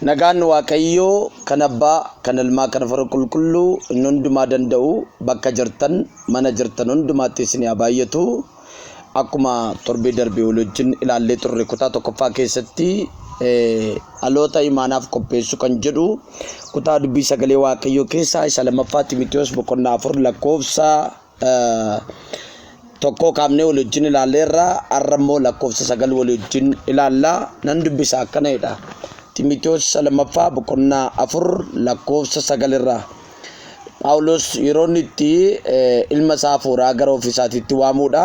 Nagaan Waaqayyoo kan abbaa, kan ilmaa, kan fara qulqulluu inni hundumaa danda'u bakka jirtan, mana jirtan hundumaatti isin haa baay'atu. Akkuma torbee darbee wal wajjin ilaallee turre kutaa tokkoffaa keessatti dhaloota imaanaaf qopheessu kan jedhu kutaa dubbii sagalee waaqayyoo keessaa isa lammaffaa Ximitiyoos boqonnaa afur lakkoofsa tokkoo kaafnee wal wajjin ilaalleerra har'a immoo lakkoofsa sagal wal wajjin ilaalla nan dubbisa akkana jedha Ximitiyoos isa lammaffaa boqonnaa afur lakkoofsa sagalirraa. Phaawulos yeroo inni itti ilma isaa hafuuraa gara ofii isaatiitti waamuudha.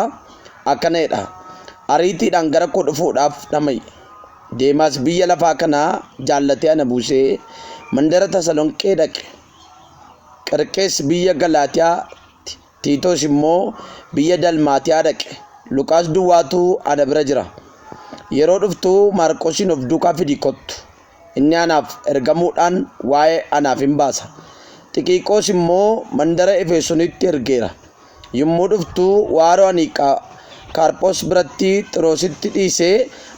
Akkana jedha. Ariitiidhaan gara koo dhufuudhaaf dhama'i. Deemaas biyya lafaa kanaa jaallatee ana buusee mandara Tasalonqee dhaqe. Qirqees biyya Galaatiyaatti Tiitoos immoo biyya Dalmaatiyaa dhaqe. Luqaas duwwaatu ana bira jira. Yeroo dhuftu Maarqosiin of duukaa fidii kottu. Inni anaaf ergamuudhaan waa'ee anaaf in baasa. Xikiqoos immoo mandara Efeesonitti ergeera. Yommuu dhuftu waaroo ani Kaarphos biratti Xiroositti dhiise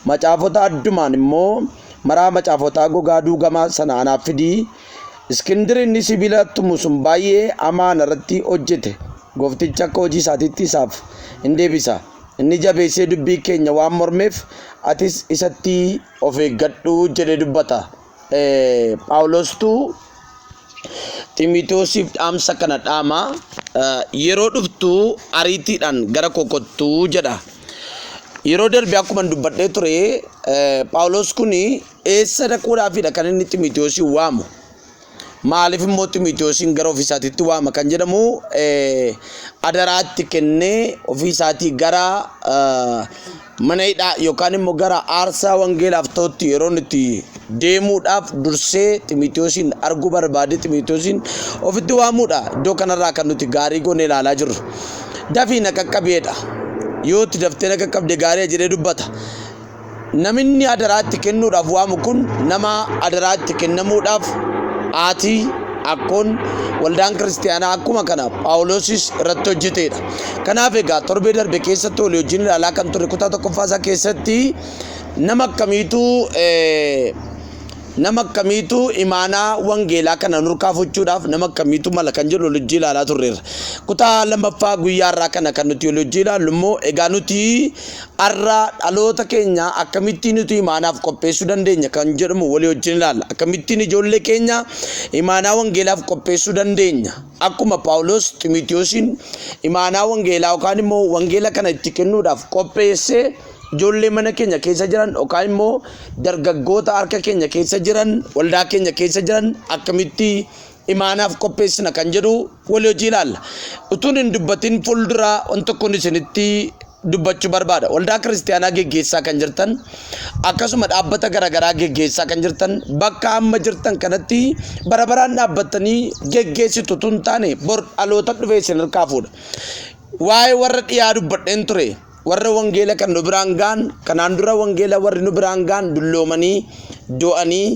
macaafota addumaan immoo maraa macaafotaa gogaa duugamaa sana anaaf fidii Iskindir inni sibiila tumu sun baay'ee hamaa ana irratti hojjete, Gooftichi akka hojii isaatiitti isaaf in deebisa, inni jabeessee dubbii keenya waan mormeef, atis isatti of eeggadhu jedhee dubbata. Phaawulostu Ximitoosiif dhaamsa kana dhaama, yeroo dhuftu ariitiidhaan gara koo kottu jedha. Yeroo darbe akkuman dubbadhee ture, Phaawulos kun Eessa dhaquudhaafidha kan inni Ximotewosiin waamu? Maaliif immoo Ximotewosiin gara ofii isaatiitti waama kan jedhamu adaraatti kennee ofii isaatii gara mana hidhaa yookaan immoo gara aarsaa wangeelaaf ta'utti yeroo itti deemuudhaaf dursee Ximotewosiin arguu barbaade Ximotewosiin ofitti waamuudha. Iddoo kanarraa kan nuti gaarii goone ilaalaa jirru. Dafii na qaqqabeedha. Yoo itti daftee na qaqqabde gaarii jedhee dubbata. Naminni adaraa itti kennuudhaaf waamu kun nama adaraa itti kennamuudhaaf haati, akkoon, waldaan kiristiyaanaa akkuma kana Phaawulosis irratti hojjeteedha. Kanaaf egaa torbee darbe keessatti walii wajjin ilaalaa kan turre kutaa tokkoffaa isaa keessatti nama akkamiitu nama akkamiitu imaanaa wangeelaa kana nurkaa fuchuudhaaf nama akkamiitu mala kan jedhu walii wajjin ilaalaa turreerra. Kutaa lammaffaa guyyaa irraa kana kan nuti walii wajjin ilaallu immoo egaa nuti Har'a dhaloota keenya akkamittiin utuu imaanaaf qopheessuu dandeenya kan jedhamu walii wajjin ilaalla. Akkamittiin ijoollee keenya imaanaa wangeelaaf qopheessuu dandeenya. Akkuma Phaawulos Ximitiyoosiin imaanaa wangeelaa yookaan immoo wangeela kana itti kennuudhaaf qopheessee ijoollee mana keenya keessa jiran yookaan immoo dargaggoota harka keenya keessa jiran waldaa keenya keessa jiran akkamitti imaanaaf qopheessina kan jedhu walii hojii ilaalla. Utuun hin dubbatin fuuldura waan tokkoon isinitti dubbachuu barbaada. Waldaa kiristaanaa geggeessaa kan jirtan akkasuma dhaabbata garaagaraa geggeessaa kan jirtan bakka amma jirtan kanatti bara baraan dhaabbattanii geggeessitu utuu hin taane bor dhaloota dhufee isin harkaa fuudha. Waa'ee warra dhiyaa dubbadheen ture. warra wangeela kan nu biraan ga'an kanaan dura wangeela warri nu biraan ga'an dulloomanii du'anii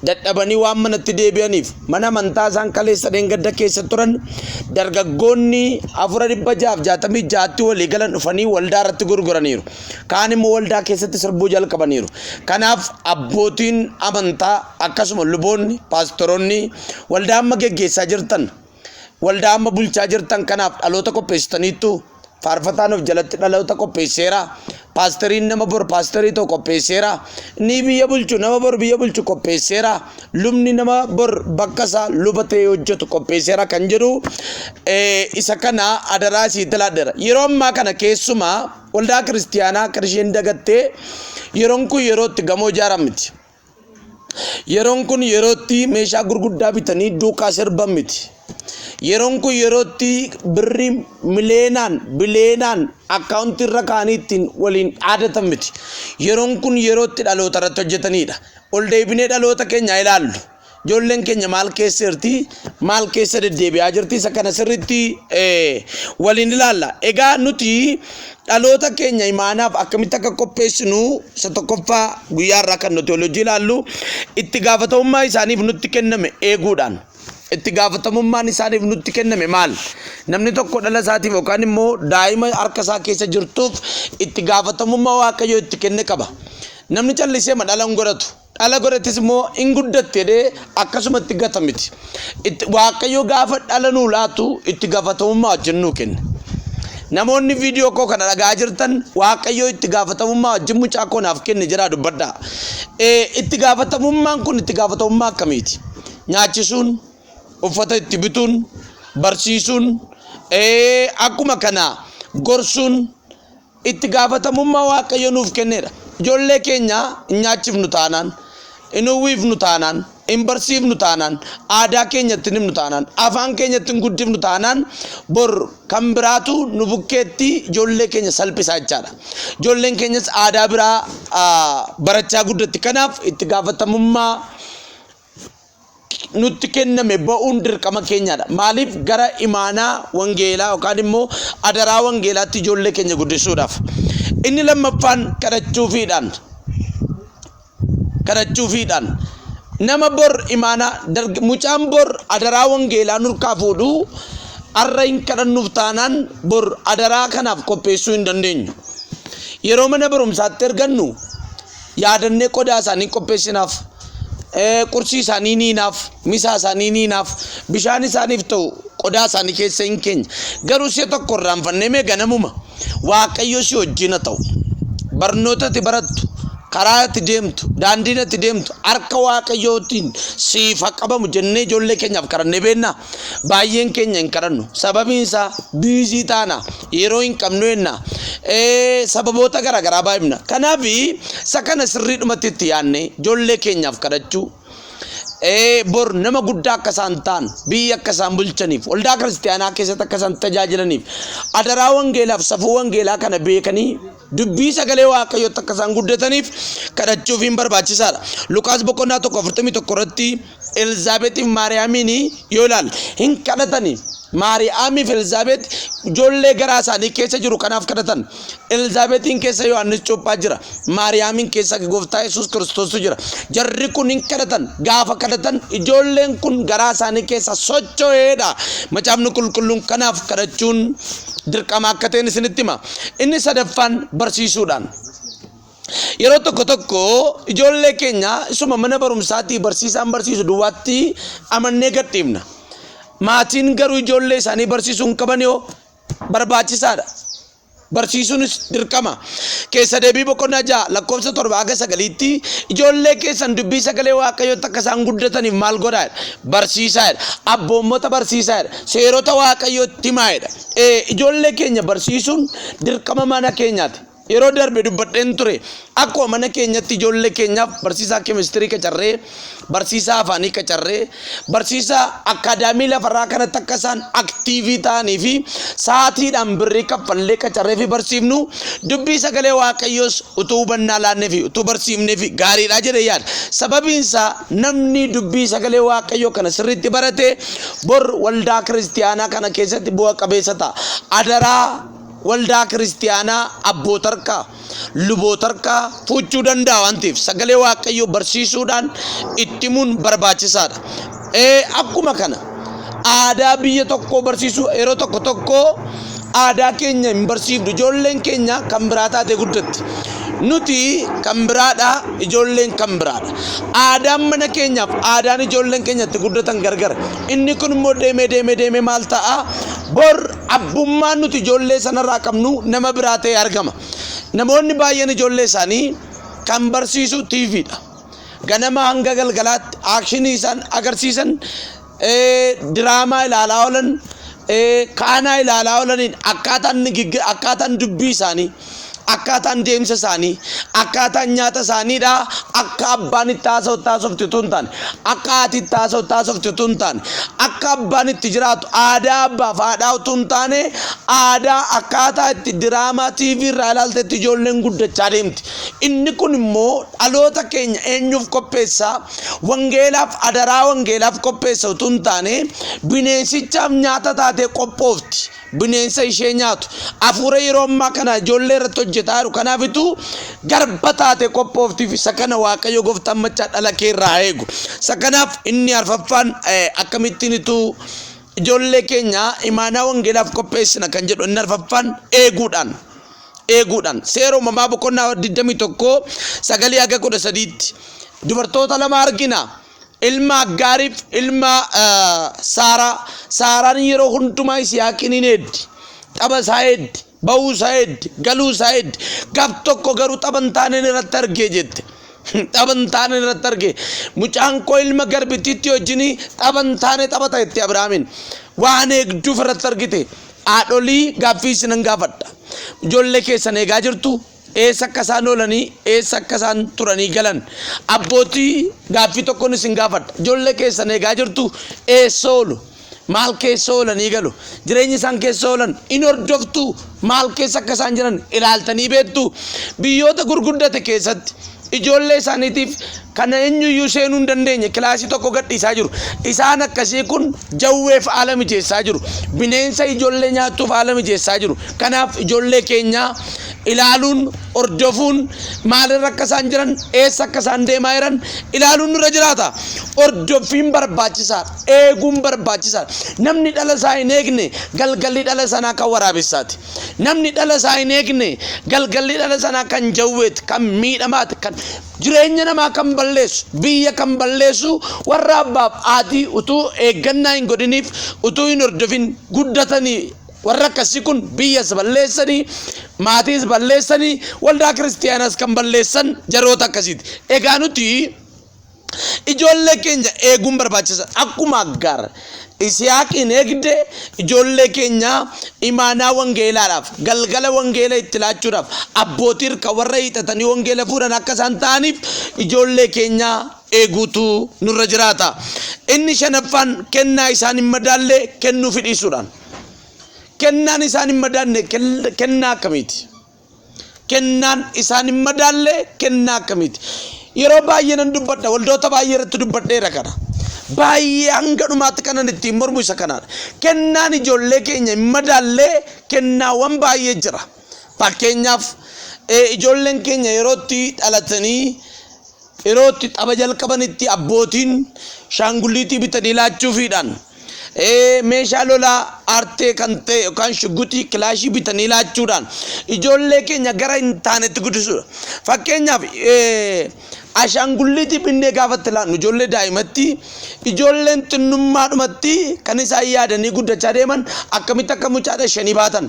dadhabanii waan manatti deebi'aniif mana amantaa isaan kaleessa dheengadda keessa turan dargaggoonni afura dhibba jaaf jaatamii jaatti walii galan dhufanii waldaa irratti gurguraniiru kaan immoo waldaa keessatti sirbuu jalqabaniiru kanaaf abbootiin amantaa akkasuma luboonni paastoroonni waldaa amma geggeessaa jirtan Waldaa amma bulchaa jirtan kanaaf dhaloota qopheessitaniittu. Faarfataan of jalatti dhaloota qopheesseera. Paasteriin nama bor paasterii ta'u qopheesseera. Inni biyya bulchu nama bor biyya bulchu qopheesseera. Lubni nama bor bakka isaa luba ta'ee hojjetu qopheesseera kan jedhu eh, isa kana adaraa isii tilaadheera. Yeroo ammaa kana keessumaa waldaa kiristiyaanaa kan isheen dagattee yeroon kun yeroo itti gamoo ijaaran miti. Yeroon kun yeroo itti meeshaa gurguddaa bitanii duukaa sirban miti. Yeroon kun yeroo itti birrii miliyeenaan biliyeenaan akkaawuntii irra kaanii ittiin waliin dhaadatan miti. Yeroon kun yeroo itti dhaloota irratti hojjetanidha. Ol deebinee dhaloota keenya ilaallu. Ijoolleen keenya maal keessa jirti? Maal keessa deddeebi'aa jirti? Isa kana sirriitti eh, waliin ilaalla. Egaa nuti dhaloota keenya imaanaaf akkamitti akka qopheessinu isa tokkoffaa guyyaa irraa kan nuti hojii ilaallu itti gaafatamummaa isaaniif nutti kenname eeguudhaan. Itti gaafatamummaan isaaniif nutti kenname maal? Namni tokko dhala isaatiif yookaan immoo daa'ima harka isaa keessa jirtuuf itti gaafatamummaa waaqayyo itti kenne qaba. Namni callisee ma dhala hin godhatu. dhala godhattis immoo hin guddatti jedhee akkasumatti gata miti. Itti- Waaqayyo gaafa dhala nuu laatu itti gaafatamummaa wajjin nuu kenne. Namoonni viidiyoo koo kana dhagaa jirtan waaqayyo itti gaafatamummaa wajjin mucaa koo naaf kenne jedhaa dubbadhaa. Eh, Itti gaafatamummaan kun itti gaafatamummaa akkamiiti? Nyaachisuun, uffata itti bituun, barsiisuun, eh, akkuma kana gorsuun, Itti gaafatamummaa Waaqayyo nuuf kenneedha. Ijoollee keenya hin nyaachifnu taanaan, hin uwwiifnu taanaan, hin barsiifnu taanaan, aadaa keenya itti hin himnu taanaan, afaan keenya itti hin guddifnu taanaan bor kan biraatu nu bukkeetti ijoollee keenya salphisaa jechaadha. Ijoolleen keenyas aadaa biraa ah, barachaa guddatti. Kanaaf itti gaafatamummaa nutti kenname ba'uun dirqama keenyaadha. Maaliif gara imaanaa wangeelaa yookaan immoo adaraa wangeelaatti ijoollee keenya guddisuudhaaf. Inni lammaffaan kadhachuufiidhaan kadhachuufiidhaan nama bor imaanaa darg- mucaan bor adaraa wangeelaa nurkaa fuudhu arra hin kadhannuuf taanaan bor adaraa kanaaf qopheessuu hin dandeenyu. Yeroo mana barumsaatti ergannu yaadannee qodaa isaanii qopheessinaaf qursii isaanii ni hinaaf misaa isaanii ni hinaaf bishaan isaaniif ta'u qodaa isaanii keessa hin keenya garuu si'a tokko irraanfannee mee ganamuma waaqayyo si wajjina ta'u barnoota itti barattu karaa itti deemtu daandiin itti deemtu harka waaqayyootiin siif haa qabamu jennee ijoollee keenyaaf kadhannee beennaa Baay'een keenya hin kadhannu. Sababiin isaa biizii taana, yeroo hin qabnu jenna, ee, sababoota garaagaraa baay'ifna. Kanaaf isa kana sirriidhumatti itti yaadnee ijoollee keenyaaf kadhachuu, ee, bor nama guddaa akka isaan ta'an, biyya akka isaan bulchaniif, waldaa kiristaanaa keessatti akka isaan tajaajilaniif, adaraa wangeelaaf safuu wangeelaa kana beekanii dubbii sagalee waaqayyootti akka isaan guddataniif kadhachuufiin barbaachisaadha. Luqaas boqonnaa 1:41 irratti Elzaabexiif Maariyaamiin yoo ilaalle hin kadhatani. Maariyaamiif Elzaabex ijoollee garaa isaanii keessa jiru kanaaf kadhatan. Elzaabexiin keessa Yohaannis Cuuphaa jira. Maariyaamiin keessa Gooftaa Yesuus Kiristoostu jira. Jarri kun hin kadhatan. Gaafa kadhatan ijoolleen kun garaa isaanii keessa socho'eedha. Macaafni qulqulluun kanaaf kadhachuun dirqama akka ta'een isinitti hima. Inni sadaffaan barsiisuudhaan. Yeroo tokko tokko ijoollee keenya isuma mana barumsaatii barsiisaan barsiisu duwwaatti amannee gadhiifna. Maatiin garuu ijoollee isaanii barsiisuu hin qaban yoo barbaachisaadha. Barsiisuunis dirqama. Keessa deebii boqonnaa ja'a lakkoofsa torba haga sagaliitti ijoollee keessan dubbii sagalee waaqayyootti akka isaan guddataniif maal godhaadha? Barsiisaadha. Abboommota barsiisaadha. Seerota waaqayyootti himaadha. Ijoollee keenya barsiisuun dirqama mana keenyaati. Yeroo darbe dubbadheen ture. Akkuma mana keenyatti ijoollee keenyaaf barsiisaa keemistirii qacarree, barsiisaa afaanii qacarree, barsiisaa akkaadaamii lafarraa kanatti akka isaan aktiivii ta'anii fi sa'aatiidhaan birrii kaffallee qacarree fi barsiifnu dubbii sagalee waaqayyoos utuu hubannaa laannee fi utuu barsiifnee fi gaariidha jedhee yaada. Sababiin isaa namni dubbii sagalee waaqayyoo kana sirriitti barate bor waldaa kiristiyaanaa kana keessatti bu'a qabeessa ta'a. Adaraa waldaa kiristiyaanaa abbootarkaa lubootarkaa fuuchuu danda'a waan ta'eef sagalee waaqayyoo barsiisuudhaan ittimuun barbaachisaadha. Akkuma kana aadaa biyya tokkoo barsiisuu yeroo tokko tokko aadaa keenya hin barsiifnu ijoolleen keenya kan biraa taatee guddatti. Nuti kan biraadha ijoolleen kan biraadha. Aadaan mana keenyaaf aadaan ijoolleen keenya itti guddatan gargara. Inni kun immoo deemee deemee deemee maal ta'a? Bor Abbummaan nuti ijoollee sanarraa qabnu nama biraa ta'ee argama. Namoonni baay'een ijoollee isaanii kan barsiisu TV dha. Ganama hanga galgalaatti aakshinii isaan agarsiisan, ee, diraamaa ilaalaa oolan, ee, kaanaa ilaalaa oolaniin akkaataan, nigiggi- akkaataan dubbii isaanii akkaataan deemsa isaanii akkaataan nyaata isaaniidha akka abbaan itti haasawutti haasofti utuu hin taane akka haati itti haasawutti haasofti utuu hin taane akka abbaan itti jiraatu aadaa abbaaf haadhaa utuu hin taane aadaa akkaataa itti diraamaa tiivii irraa ilaaltetti ijoolleen guddachaa deemti inni kun immoo dhaloota keenya eenyuuf qopheessa wangeelaaf adaraa wangeelaaf qopheessa utuu hin taane bineensichaaf nyaata taatee qophoofti. bineensa ishee nyaatu afuura yeroo ammaa kana ijoollee irratti hojjetaa jiru kanaafitu garba taate qophooftiif isa kana waaqayyo gooftaan machaa dhala kee irraa eegu isa kanaaf inni arfaffaan akkamittiin ituu ijoollee keenya imaanaa wangeelaaf qopheessina kan jedhu inni arfaffaan eeguudhaan eeguudhaan seera uumamaa boqonnaa 21 sagalii haga 13tti dubartoota lama argina. ilma Aggaariif ilma Saaraa. Saaraan yeroo hundumaa Yisihaaqiin hin eeddi. Xaba isaa eeddi. Ba'uu isaa eeddi. Galuu isaa eeddi. Gaf tokko garuu xaba hin taaneen irratti argee jette. Xaba hin taaneen irratti argee. Mucaan koo ilma garbittiitti wajjin xaba hin taane taphata jette Abiraamiin. Waan eegduuf irratti argite. Haadholii gaaffii isinan gaafadha. Ijoollee keessan eegaa jirtu eessa akka isaan oolanii eessa akka isaan turanii galan abbootii gaaffii tokkoon isin gaafadha ijoollee keessan eegaa jirtu eessa oolu maal keessa oolanii galu jireenya isaan keessa oolan in hordoftu maal keessa akka isaan jiran ilaaltanii beektu biyyoota gurguddate keessatti Ijoollee isaaniitiif kan eenyuyyuu seenuu hin dandeenye kilaasii tokko gadhiisaa jiru. Isaan akkasii kun jawweef haala mijeessaa jiru. Bineensa ijoollee nyaattuuf haala mijeessaa jiru. Kanaaf ijoollee keenyaa ilaaluun, hordofuun maalirra akka isaan jiran, eessa akka isaan deemaa jiran ilaaluun nurra jiraata. Hordoffiin barbaachisaadha. Eeguun barbaachisaadha. Namni dhala isaa hin eegne galgalli dhala sanaa kan waraabessaati. Namni dhala isaa hin eegne galgalli dhala sanaa kan jawweeti, kan miidhamaati, kan jireenya namaa kan balleessu, biyya kan balleessu warra abbaaf aatii utuu eeggannaa hin godhiniif utuu hin hordofin guddatanii warra akkasii kun biyyas balleessanii maatiis balleessanii waldaa kiristiyaanaas kan balleessan jaroota akkasiiti. Egaa nuti Ijoollee keenya eeguun barbaachisa. Akkuma Aggaar Isiyaaqiin eegde ijoollee keenya imaanaa wangeelaadhaaf, galgala wangeela itti laachuudhaaf, abbootii irka warra hiixatanii wangeela fuudhan akka isaan ta'aniif ijoollee keenya eeguutu nurra jiraata. Inni shanaffaan kennaa isaan hin madaalle kennuu fidhiisuudhaan. Kennaan isaan hin madaanne kennaa akkamiiti? Kennaan isaan hin madaalle kennaa akkamiiti? Yeroo baay'ee nan dubbadha, waldoota baay'ee irratti dubbadheera kana. Baay'ee hanga dhumaatti kanan ittiin mormu isa kanaadha. Kennaan ijoollee keenya hin madaalle kennaawwan baay'ee jira. Fakkeenyaaf eh, ijoolleen keenya yerootti dhalatanii Yeroo itti tapha jalqabanitti abbootiin shaangulliitii bitanii laachuufiidhaan meeshaa lolaa aartee kan ta'e yookaan shugguxii kilaashii bitanii laachuudhaan ijoollee keenya gara hin taanetti guddisuudha. Fakkeenyaaf ashaangulliitii binnee gaafa itti laannu ijoollee daa'imatti ijoolleen xinnummaadhumatti kan isaan yaadanii guddachaa deeman akkamitti akka mucaadha ishanii baatan.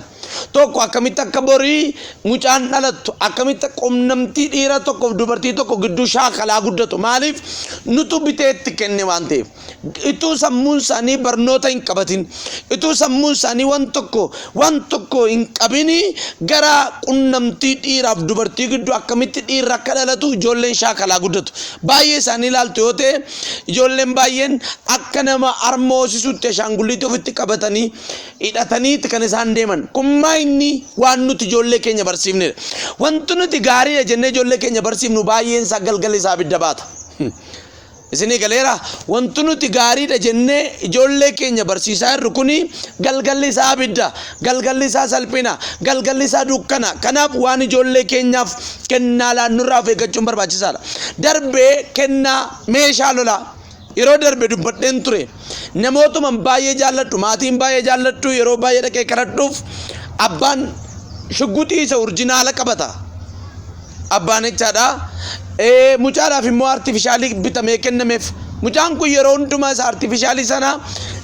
tokko akkamitti akka borii mucaan dhalattu akkamitti qunnamtii dhiira tokkoof dubartii tokko gidduu shaakalaa guddatu maaliif nutu bitee itti kenne waan ta'eef ituu sammuun isaanii barnoota hin qabatin ituu sammuun isaanii waan tokko waan tokko hin qabini gara qunnamtii dhiiraaf dubartii gidduu akkamitti dhiirra akka dhalatu ijoolleen shaakalaa guddatu baay'ee isaanii ilaaltu yoo ta'e ijoolleen baay'een akka nama harma hoosisuutti ashaangulliitti ofitti qabatanii hidhataniiti kan isaan deeman. Kun maa inni waan nuti ijoollee keenya barsiifnedha. Wanti nuti gaariidha jennee ijoollee keenya barsiifnu baay'een isaa galgala isaa abidda baata. Isinii galeera wanti nuti gaariidha jennee ijoollee keenya barsiisaa jirru kuni galgalli isaa abidda, galgalli isaa salphina, galgalli isaa dukkana. Kanaaf waan ijoollee keenyaaf kennaa laannurraa of eeggachuun barbaachisaadha. Darbee kennaa meeshaa lolaa Yeroo darbe dubbadheen ture. Namootuman baay'ee jaalladhu, maatiin baay'ee jaalladhu yeroo baay'ee dhaqee kadhadhuuf abbaan shugguxii isa urjinaala qabata. Abbaan jechaadha. Ee, mucaadhaaf immoo artifishaalii bitamee kennameef. Mucaan kun yeroo hundumaa isa artifishaalii sana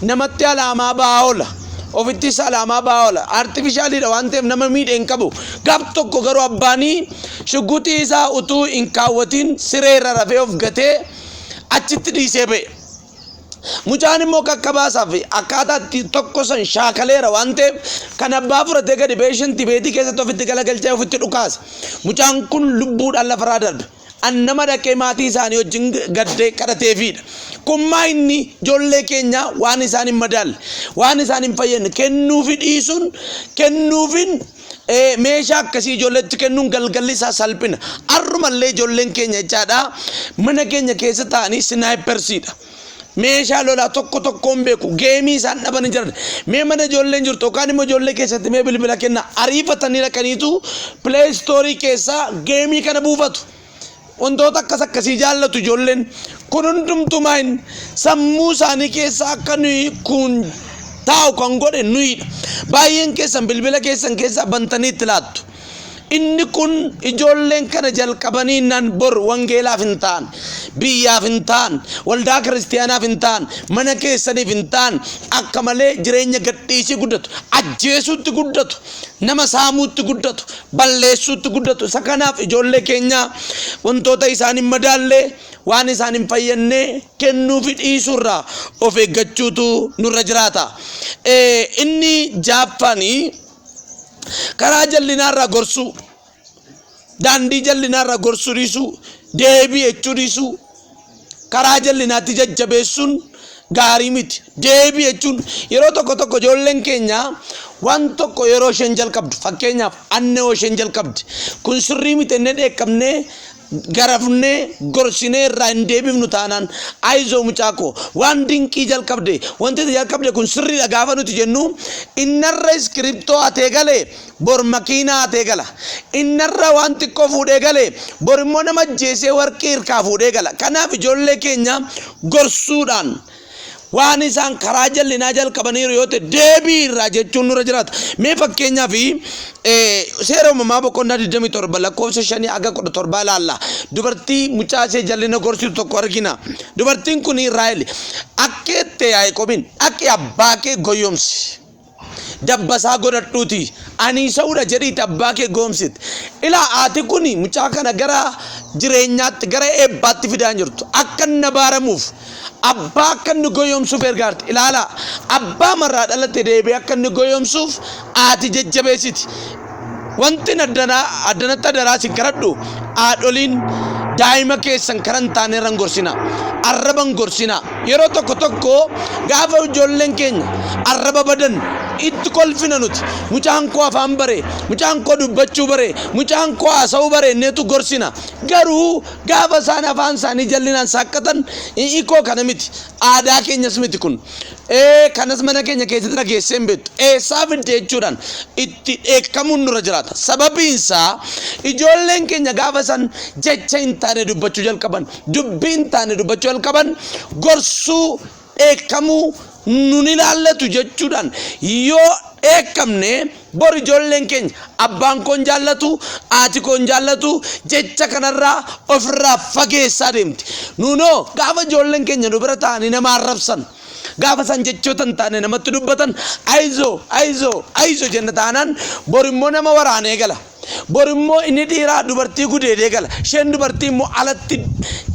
namatti alaamaa ba'aa oola. Ofittis alaamaa ba'aa oola. Artifishaaliidha waan ta'eef nama miidhe hin qabu. Gaaf tokko garuu abbaanii shugguxii isaa utuu hin kaawwatiin sireerra rafee of gatee achitti dhiisee ba'e. Mucaan immoo kakkabaasaa fi akkaataa itti tokko san shaakaleera waan ta'eef kan abbaa fudhatee gadi ba'ee shanti beetii keessatti ofitti galagalchee ofitti dhukaase. Mucaan kun lubbuudhaan lafarraa darbe. An nama dhaqee maatii isaanii wajjin gaddee kadhateefiidha. Kun maa inni ijoollee keenyaa waan isaan hin madaalle, waan isaan hin fayyadne kennuufi dhiisuun kennuufiin meeshaa akkasii ijoolleetti kennuun galgalli isaa salphina. Har'umallee ijoolleen keenya jechaadha mana keenya keessa taa'anii sinaayipersiidha. Meeshaa lolaa tokko tokkoon beeku geemii isaan dhabanii jiran mee mana ijoolleen jirtu yookaan immoo ijoollee keessatti mee bilbila kenna ariifatanii dhaqaniitu pileestoorii keessaa geemii kana buufatu. wantoota akkas akkasii jaallatu ijoolleen kun hundumtuu maayin sammuu isaanii keessaa akka nuyi kun taa'u kan godhe nuyidha. Baay'een keessan bilbila keessan keessaa bantanii itti laattu. Inni kun ijoolleen kana jalqabanii nan bor wangeelaaf hin ta'an, biyyaaf hin ta'an, waldaa kiristaanaaf hin ta'an, mana keessaniif hin ta'an akka malee jireenya gadhiisii guddatu, ajjeesuutti guddatu. nama saamuutti guddatu, balleessuutti guddatu. Isa kanaaf ijoollee keenya wantoota isaan hin madaalle waan isaan hin fayyadne kennuufi dhiisuurraa of eeggachuutu nurra jiraata. Inni jaaffaanii karaa jal'inaarraa gorsuu. daandii jal'inaarra gorsuu dhiisuu, deebii jechuu dhiisuu, karaa jal'inaatti jajjabeessuun gaarii miti. Deebii jechuun yeroo tokko tokko ijoolleen keenya waan tokko yeroo isheen jalqabdu fakkeenyaaf annoo isheen jalqabde kun sirrii miti jennee dheekkamnee garafnee gorsinee irraa hin deebifnu taanaan ayizoo mucaa koo waan dinqii jalqabde wanti ati jalqabde kun sirriidha gaafa nuti jennu innarra iskiriptoo hatee gale bor makiinaa hatee gala innarra waan xiqqoo fuudhee gale bor immoo nama ajjeesee warqii irkaa fuudhee gala kanaaf ijoollee keenya gorsuudhaan Waan isaan karaa jallinaa jalqabaniiru yoo ta'e deebii irraa jechuun nurra jiraata. Mee fakkeenyaa fi seera uumamaa boqonnaa 27 lakkoofsa 5 aga 17 ilaalla. Dubartii mucaa ishee jallina gorsitu tokko argina. Dubartiin kun Raahel akkeette Yaaqoobiin dhaqi abbaa kee goyyomsi. dabbasaa godhadhuutii anii sa'uudha jedhiiti abbaa kee goomsite ilaa haati kuni mucaa kana gara jireenyaatti gara eebbaatti fidaa hin jirtu akka inni abaaramuuf abbaa akka inni goyoomsuuf ergaarte ilaalaa abbaa marraa dhalate deebee akka inni goyoomsuuf haati jajjabeessiti wantin addanaa addanatti adaraa sin kadhadhu haadholiin daa'ima keessan karan taane irran gorsina arraban gorsina yeroo tokko tokko gaafa ijoolleen keenya arraba badan itti kolfina nuti mucaan koo afaan bare mucaan koo dubbachuu bare mucaan koo haasa'uu bare inneetu gorsina garuu gaafa isaan afaan isaanii jallinaan saaqqatan ikoo kana miti aadaa keenyas miti kun Ee, kanas mana keenya keessatti dhageessee hin beektu. Eessaa fidde jechuudhaan itti dheekkamuun nurra jiraata. Sababiin isaa ijoolleen keenya gaafa san jecha hin taane dubbachuu jalqaban, dubbii hin taane dubbachuu jalqaban, gorsuu, dheekkamuu, nun ilaallatu jechuudhaan yoo dheekkamne Bor ijoolleen keenya abbaan koo hin jaallatu, haati koo hin jaallatu jecha kanarraa ofirraa fageessaa deemti. Nuunoo gaafa ijoolleen keenya nu bira taa'anii nama arrabsan, gaafa isaan jechoota hin taane namatti dubbatan ayizoo ayizoo ayizoo jenna taanaan bor immoo nama waraanee gala. Bor immoo inni dhiiraa dubartii gudeedee gala. Isheen dubartii immoo alatti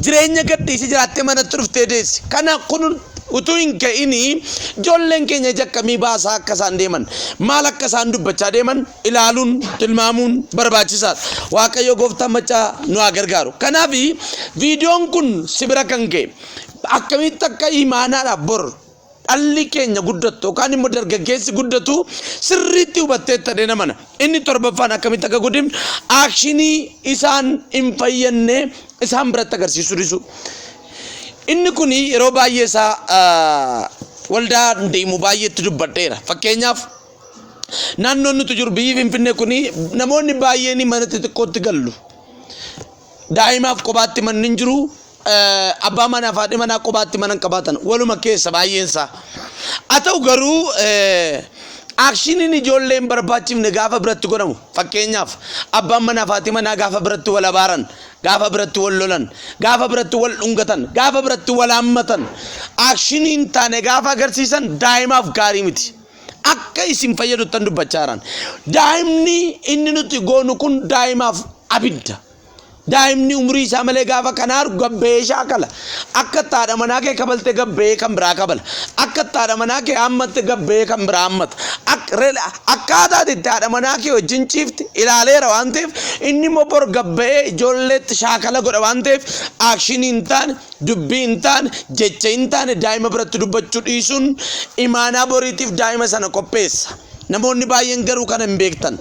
jireenya gadhiisee jiraattee manatti dhuftee deessi. Kana kun utuu hin ga'inii ijoolleen keenya ija akkamii baasaa akka isaan deeman, maal akka isaan dubbachaa deeman ilaaluun, tilmaamuun barbaachisaadha. Waaqayyo gooftaan maccaa nu haa gargaaru. Kanaaf viidiyoon kun si bira kan ga'e akkamitti akka imaanaadhaaf bor dhalli keenya guddattu yookaan immoo dargaggeessi guddatu sirriitti hubatteetta dheena mana. Inni torbaffaan akkamitti akka godhim aakshinii isaan hin fayyadne isaan biratti agarsiisuu dhisu. Inni kun yeroo baay'ee isaa waldaa deemu baay'eetti dubbadheera. Fakkeenyaaf naannoon nuti jiru biyyi Finfinnee kun namoonni baay'een mana xixiqqootti gallu. Daa'imaaf qobaatti manni hin jiru. Abbaa manaa fi haadhi manaa qobaatti mana hin qabaatan. Waluma keessa baay'een isaa. Haa ta'u garuu aakshiniin ijoolleen barbaachifne gaafa biratti godhamu fakkeenyaaf abbaan manaa fi haati manaa gaafa biratti wal abaaran gaafa biratti wal lolan gaafa biratti wal dhungatan gaafa biratti wal haammatan aakshiniin taane gaafa agarsiisan daa'imaaf gaarii miti. akka isin fayyaduttan dubbachaaran. Daa'imni inni nuti goonu kun daa'imaaf abidda. Daa'imni umrii isaa malee gaafa kana argu gabba'ee shaakala. Akka itti haadha manaa kee kabalte gabba'ee kan biraa kabala. Akka itti haadha manaa kee hammatte gabba'ee kan biraa hammata. Ak- re- Akkaataa ati itti haadha manaa kee wajjin ciifte ilaaleera waan ta'eef inni immoo bor gabba'ee ijoolleetti shaakala godha waan ta'eef aakshinii hin taane Dubbii hin taane, jecha hin taane daa'ima biratti dubbachuu dhiisuun imaanaa boriitiif daa'ima sana qopheessa. Namoonni baay'een garuu kana hin beektan.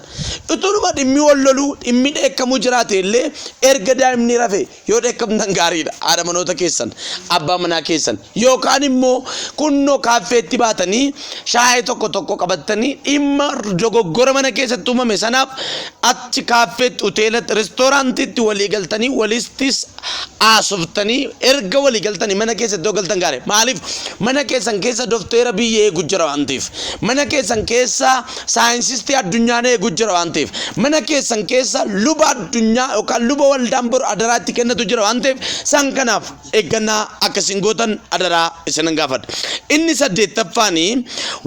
Utunuma dhimmi wal loluu, dhimmi dheekkamuu jiraate illee erga daa'imni rafe yoo dheekkamtan gaariidha. Haadha manoota keessan, abbaa manaa keessan yookaan immoo kunnoo kaaffeetti baatanii shaayee tokko tokko qabattanii dhimma dogoggora mana keessatti uumame sanaaf achi kaaffeetti, hoteelatti, restooraantiitti walii galtanii walistis haasoftanii erga walii galtanii mana keessa iddoo galtan gaare maaliif mana keessan keessa dofteera biyya eegu jira waan ta'eef mana keessan keessa saayinsistii addunyaan eegu jira waan ta'eef mana keessan keessa luba addunyaa yookaan luba waldaan boru adaraa itti kennatu jira waan ta'eef san kanaaf eeggannaa akkasiin gootan adaraa isinan gaafadha inni saddeettaffaanii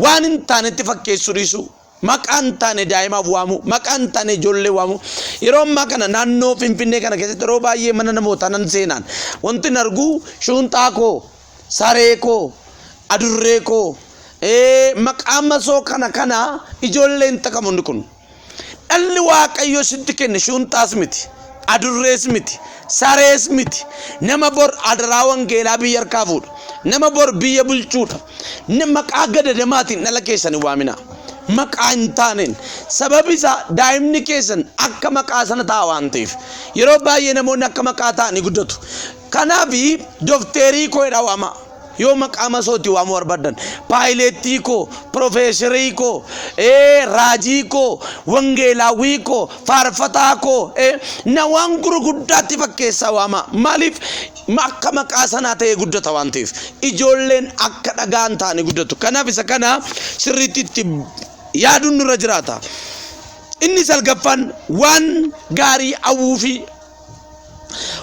waan hin taanetti fakkeessuu dhiisuu Maqaa hin taane daa'imaaf waamuu, maqaa hin taane ijoollee waamuu. Yeroo ammaa kana naannoo Finfinnee kana keessatti yeroo baay'ee mana namootaa nan seenaan wanti hin argu shuunxaa koo, saree koo, adurree koo, maqaa masoo kana kana ijoollee hin takamu inni kun. Dhalli waaqayyo sitti kenne shuunxaas miti, adurrees miti, sarees miti. Nama bor adaraa wangeelaa biyya harkaa fuudhu, nama bor biyya bulchuudha. N maqaa gadadamaatiin dhala keessan hin waaminaa. Maqaa hin taaneen. Sababi isaa daa'imni keessan akka maqaa sana ta'a waan ta'eef. Yeroo baay'ee namoonni akka maqaa ta'anii guddatu. Kanaaf dokteerii koo jedhaa waamaa. Yoo maqaa masootii waamuu barbaadan paayileettii koo, pirofeesarii koo, ee, raajii koo, wangeelaawwii koo, faarfataa koo, ee, na waan gurguddaatti fakkeessaa waamaa. Maaliif akka maqaa sanaa ta'ee guddata waan ta'eef ijoolleen akka dhagaan ta'anii guddatu. Kanaaf isa kana sirriitti itti yaaduun nurra jiraata. Inni salgaffaan waan gaarii hawwuu fi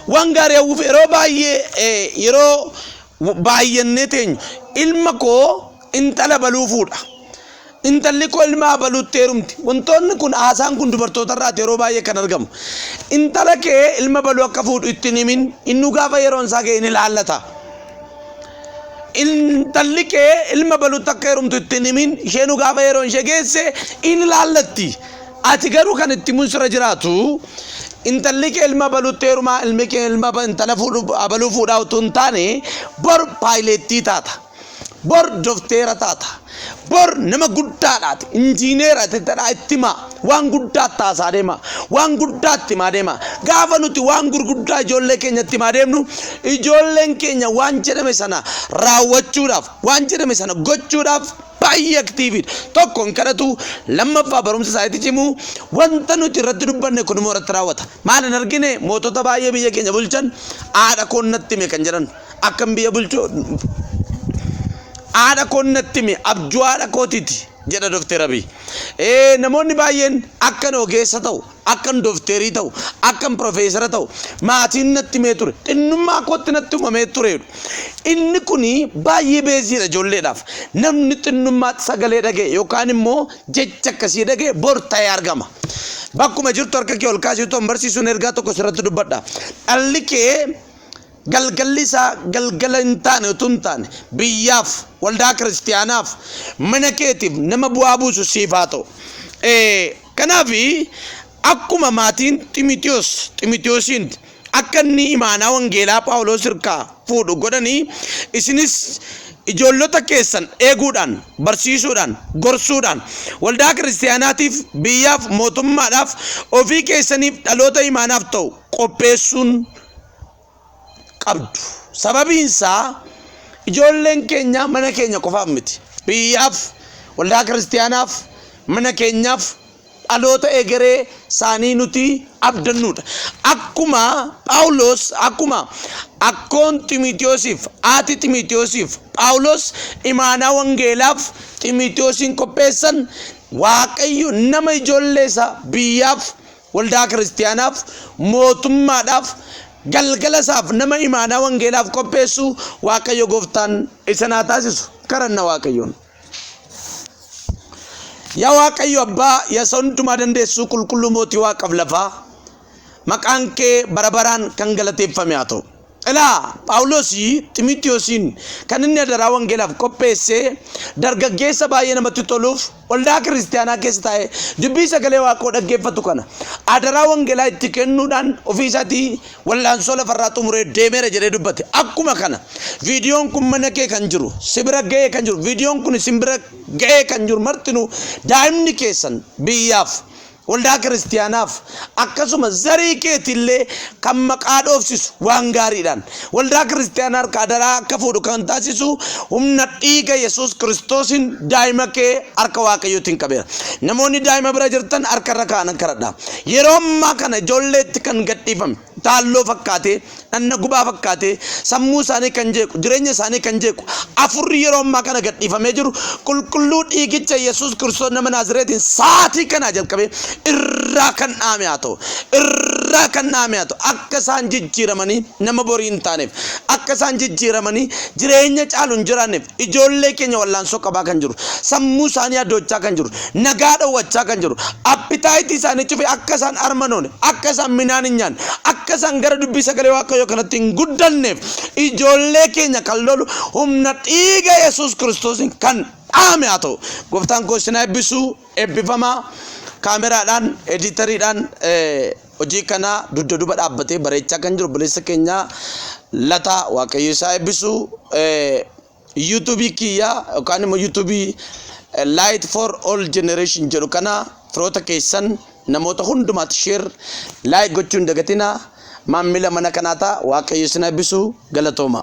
waan gaarii hawwuuf yeroo baay'ee eh, yeroo baay'annee teenyu ilma koo intala baluufuudha. Intalli koo ilma abaluutti heerumti. Wantoonni kun, haasaan kun dubartootarraati yeroo baay'ee kan argamu. Intala kee ilma abaluu akka fuudhu itti hin himin, innuu gaafa yeroon isaa ga'e ni ilaallata. Intalli kee ilma abaluutti akka heerumtu itti hin himin, isheenuu gaafa yeroon ishee geesse in ilaallatti. Ati garuu kan itti himuun sirra jiraatu intalli kee ilma abaluutti heerumaa ilmi kee ilma aba- intala fuudhu- abaluu fuudhaa utuu hin taane bor paayileettii taata. Bor dofteera taata. Bor nama guddaadhaati. Injiineera tattadhaa itti himaa. Waan guddaa taasaa deema. Waan guddaa itti himaa deema. Gaafa nuti waan gurguddaa ijoollee keenya itti himaa deemnu ijoolleen keenya waan jedhame sana raawwachuudhaaf waan jedhame sana gochuudhaaf baay'ee aktiiviidha. Tokko hin kadhatu lammaffaa barumsa isaaniitti cimu wanta nuti irratti dubbanne kun immoo irratti raawwata. Maal hin argine mootota baay'ee biyya keenya bulchan haadha koon natti hime kan jedhan. akkan biyya bulchu haadha koon natti hime abjuu haadha kootiti jedha Dookter Abiy. Ee, Namoonni baay'een akkan ogeessa ta'u, akkan doofteerii ta'u, akkan pirofeesara ta'u maatiin natti himee ture. Xinnummaa kootti natti himamee tureedhu. Inni kun baay'ee beeziidha ijoolleedhaaf. Namni xinnummaatti sagalee dhaga'e yookaan immoo jecha akkasii dhaga'e bor ta'ee argama. Bakkuma jirtu harka kee ol kaasii utuu hin barsiisuun ergaa tokko sirratti dubbadha. Dhalli kee Galgalli isaa galgala hin taane utuu hin taane biyyaaf, waldaa kiristiyaanaaf, mana keetiif nama bu'aa buusu siif haa ta'u. Eh, Kanaaf akkuma maatiin Ximitiyoos Ximitiyoosiin akka inni imaanaa wangeelaa Phaawuloos irkaa fuudhu godhanii isinis ijoollota keessan eeguudhaan, barsiisuudhaan, gorsuudhaan waldaa kiristiyaanaatiif, biyyaaf, mootummaadhaaf, ofii keessaniif dhaloota imaanaaf ta'u qopheessuun qabdu. Sababiin isaa ijoolleen keenya mana keenya qofaaf miti. Biyyaaf, waldaa kiristaanaaf, mana keenyaaf dhaloota egeree isaanii nuti abdannuudha. Akkuma Phaawulos akkuma akkoon Ximitiyoosiif haati Ximitiyoosiif Phaawulos imaanaa wangeelaaf Ximitiyoosiin qopheessan Waaqayyo nama ijoollee isaa biyyaaf Waldaa kiristiyaanaaf, mootummaadhaaf, galgala isaaf nama imaanaa wangeelaaf qopheessu Waaqayyo gooftaan isin haa taasisu. Karanna Waaqayyoon. Yaa Waaqayyo Abbaa, yaa isa hundumaa dandeessuu qulqulluu mootii waaqaaf lafaa, maqaan kee bara baraan kan galateeffame haa ta'u. Ilaa, Phaawulos Ximotewosiin kan inni adaraa wangeelaaf qopheesse dargaggeessa baay'ee namatti toluuf waldaa kiristiyaanaa keessa taa'ee dubbii sagalee Waaqoo dhaggeeffatu kana adaraa wangeelaa itti kennuudhaan ofii isaatii wal'aansoo lafarraa xumuree deemeera jedhee dubbate. Akkuma kana viidiyoon kun mana kee kan jiru, si bira ga'ee kan jiru, viidiyoon kun isin bira ga'ee kan jiru martinuu daa'imni keessan biyyaaf Waldaa Kiristiyaanaaf, akkasuma zarii keeti illee kan maqaa dhoofsisu waan gaariidhaan, Waldaa Kiristiyaanaa harkaa adaraa akka fuudhu kan taasisu humna dhiiga Yesuus Kiristoosiin daa'ima kee harka Waaqayyootiin qabeera. Namoonni daa'ima bira jirtan harka irra kaa'an kadhadhaa. Yeroo ammaa kana ijoolleetti kan gadhiifame. taalloo fakkaatee, dhanna gubaa fakkaatee, sammuu isaanii kan jeequ, jireenya isaanii kan jeequ, afurri yeroo ammaa kana gadhiifamee jiru, qulqulluu dhiigicha Yesuus Kiristoos nama Naazireetiin saatii kanaa jalqabee irraa kan dhaame haa ta'u, irraa kan dhaame haa ta'u, akka isaan jijjiiramanii nama borii hin taaneef, akka isaan jijjiiramanii jireenya caalu hin jiraanneef, Ijoollee keenya wallaansoo qabaa kan jiru, sammuu isaanii adoochaa kan jiru, nagaa dhowwachaa kan jiru, appitaayitii isaanii cufee akka isaan armanoone, akka isaan minaan hin nyaanne, akka isaan gara dubbii sagalee Waaqayyoo kanatti hin guddanneef ijoollee keenya kan lolu humna dhiiga Yesuus Kiristoosiin kan dhaame haa ta'u. Gooftaan koo isin haa eebbisu, eebbifamaa. Kaameraadhaan, ediitariidhaan, eh, Hojii kana dugda duuba dhaabbatee bareechaa kan jiru obboleessa keenya Lataa Waaqayyo isaa eebbisu yuutuubii kiyya yookaan immoo yuutuubii Light for All Generation jedhu kana firoota keessan namoota hundumaatti sheer laayik gochuu hin dagatina maammila mana kanaa ta'a Waaqayyo isin eebbisu galatooma.